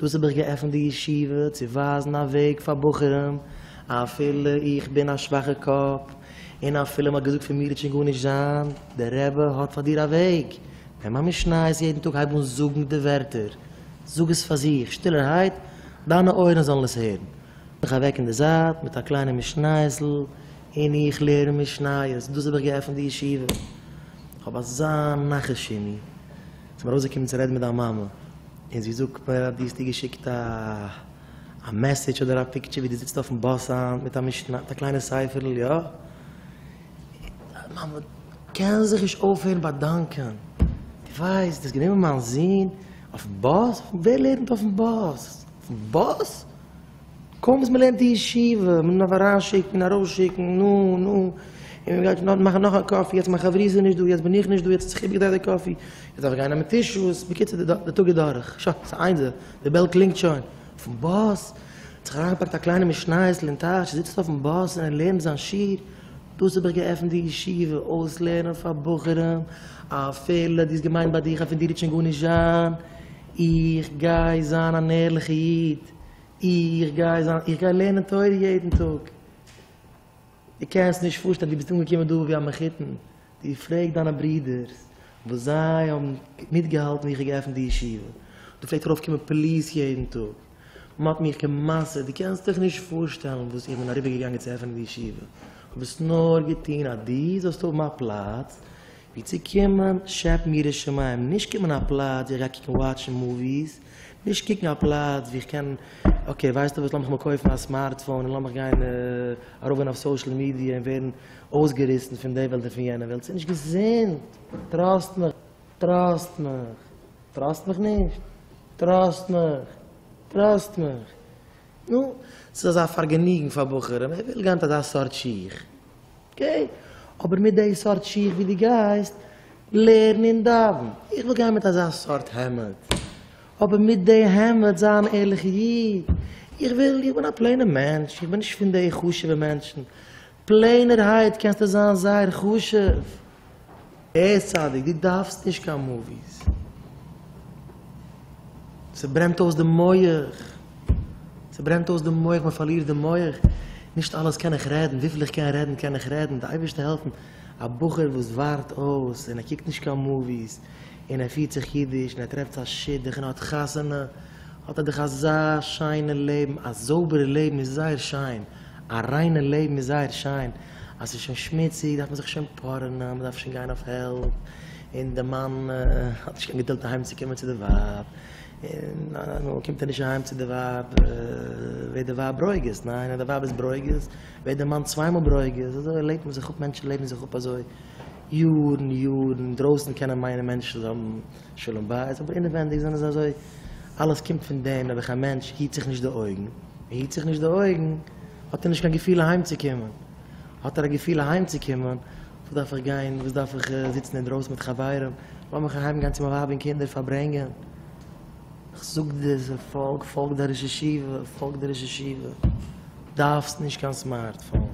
דאס האב איך געעפנט די ישיבה צו ווייזן א וועג פאר בחורים, אפילו איך בין א שוואכע קאפ, און אפילו מ'האט געזאגט פון מיר וועט שוין גארנישט זיין, דער רבי האט פאר דיר א וועג, נעם א משניות יעדן טאג הייב אן זאגן די ווערטער, זאג עס פאר זיך שטילערהייט, דיינע אויערן זאלן עס הערן, מיך אוועק אין די זייט מיט א קליינע משניות'ל, און איך לערן משניות, דאס האב איך געעפנט די ישיבה, כ'האב אזא נחת שימי. ס'איז מיר אויסגעקומען צו רעדן מיט דיין מאמע, און זי זאגט מיר אז דו האסט איר געשיקט א מעסעדזש אדער א פיקטשער ווי דו זיצט אויפן באס היינט מיט א משנה, מיט א קליינע ספר'ל, יא? מאמע, קען זיך נישט אויפהערן באדאנקען, דו ווייסט, דו האסט גענומען מיין זון אויפן באס? ווער לערנט אויפן באס? אויפן באס? קוים וואס מ'לערנט אין ישיבה, מ'דארף אריינשיקן, ארויסשיקן, נו, נו, און מ'גייט נאר מאכן נאך א קאפי, יעצט מיין חבריא זענען נישט דא, יעצט בין איך נישט דא, יעצט האט זיך איבערגעדרייט די קאפי, יעצט דארף איך גיין נעמען טישוס, בקיצור די די טאג איז דורך, שא, ס'איז איינס, די די בעל קלינגט שוין, אויפן באס, ער האט זיך אריינגעפאקט א קליינע משנייעס'ל אין טאש, ער זיצט אויפן באס און ער לערנט זיין שיעור, דאס האב איך געעפנט די ישיבה, אויסלערנען פאר בחורים, אפילו דו האסט געמיינט ביי דיך אז פון דיר וועט שוין גארנישט זיין, איך גיי זיין אן ערליכע איד. איך גיי זיין איך גיי לערנען תורה יעדן טאג. דו קענסט נישט פארשטיין, דו ביסט אנגעקומען דא ווי א מחותן, דו פרעג דיינע ברידערס וואס זיי האבן מיטגעהאלטן ווי איך האב געעפנט די ישיבה, דו פלעגט ארויף קומען פליס יעדן טאג, מען האט מיך גע'מסר'ט, דו קענסט דיך נישט פארשטעלן וואס איך בין אריבער געגאנגען צו עפענען די ישיבה, איך האב עס נאר געטון אז דו זאלסט האבן א פלאץ ווי צו קומען שעפן יראת שמים, נישט קומען א פלאץ ווי איך גיי קוקן וואטשן מאוויס. נישט קוקן א פלאץ ווי איך קען, אקעי ווייסטו וואס לאמיך מיר קויפן א סמארטפאון און לאמיך גיין ארויפגיין אויף סאושעל מידיע און ווערן אויסגעריסן פון די וועלט און פון יענע וועלט, ס'איז נישט געזונט, טראסט מיך, טראסט מיך, טראסט מיך נישט, טראסט מיך, טראסט מיך, נו, ס'איז אזא פארגעניגן פאר בחורים, ווער וויל גיין מיט אזא סארט שיך? אקעי, אבער מיט די סארט שיך ווי דו גייסט לערן און דאווען, איך וויל גיין מיט אזא סארט העמד, אבער מיט די העמד זיין ערליכע איד, איך וויל, איך בין א פלעינער מענטש, איך בין נישט פון די חשוב'ע מענטשן, פלעינערהייט קענסטו זיין זייער חשוב. ער צדיק, דו דארפסט נישט קיין מאוויס, ס'ברענט אויס די מח, ס'ברענט אויס די מח, מ'פארלירט די מח, נישט אלעס קען איך רעדן, וויפיל איך קען רעדן קען איך רעדן, די אייבערשטער העלפן, א בחור וואס ווארט אויס און ער קוקט נישט קיין מאוויס און ער פירט זיך אידיש און ער טרעפט זיין שידוך און ער האט חתונה, האט ער דאך אזא שיינע לעבן, א זויבערע לעבן איז זייער שיין, א ריינע לעבן איז זייער שיין, אז ס'איז שוין שמוציג דארף מען זיך שוין פארענען, מ'דארף שוין גיין אויף העלפ, און די מאן האט נישט קיין געדולד אהיים צו קומען צו די ווייב, און איינמאל קומט ער נישט אהיים צו די ווייב ווערט די ווייב ברוגז, ניין? און אז די ווייב איז ברוגז ווערט די מאן צוויי מאל ברוגז, אזוי לעבט מען זיך אפ, מענטשן לעבן זיך אפ אזוי יארן יארן, אינדרויסן קענען מיינען מענטשן זיי האבן. שלום בית, אבער אינעווענדיג זענען זיי אזוי, אלעס קומט פון דעם, נעבעך א מענטש היט זיך נישט די אויגן, און היט זיך נישט די אויגן, האט ער נישט קיין געפיל אהיימצוקומען, האט ער א געפיל אהיימצוקומען, וואס דארף איך גיין, וואס דארף איך זיצן אינדרויסן מיט חברים, לאמיך אהיים גיין צו מיין ווייב און קינדער פארברענגען. איך זאג דיר, זיי פאלג, פאלג דיין ראש ישיבה, פאלג די ראש ישיבה, דארפסט נישט קיין סמארטפאון,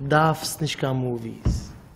דארפסט נישט קיין מאוויס.